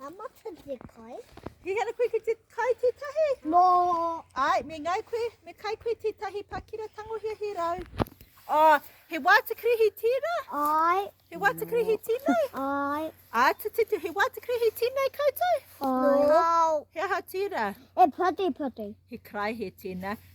How much for the kai? He had a quick to kai te tahi? No. Ai, me ngai koe, me kai koe te tahi pakira tangohia he rau. Oh, he wāta krehi tīna? Ai. He wāta krehi tīnei? Ai. Ā, te te te, he wāta krehi tīnei koutou? Ai. No. He aha tīna? E pati pati. He karaihe tīna.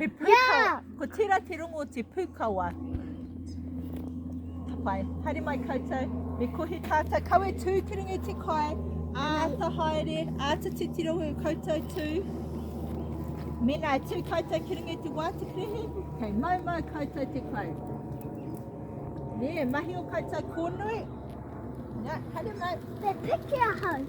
He pūkawa. Ko tērā te rongo o te pūkawa. Tapai, haere mai koutou. Me kohi tātou. Kau e tū te ringa i te kai. Āta haere, āta titiro e koutou tū. Mena e tū koutou ki ringa i te wāti krehe. Kei mau mau koutou te kai. Nē, mahi o koutou kōnui. Nā, haere mai. Te piki ahau.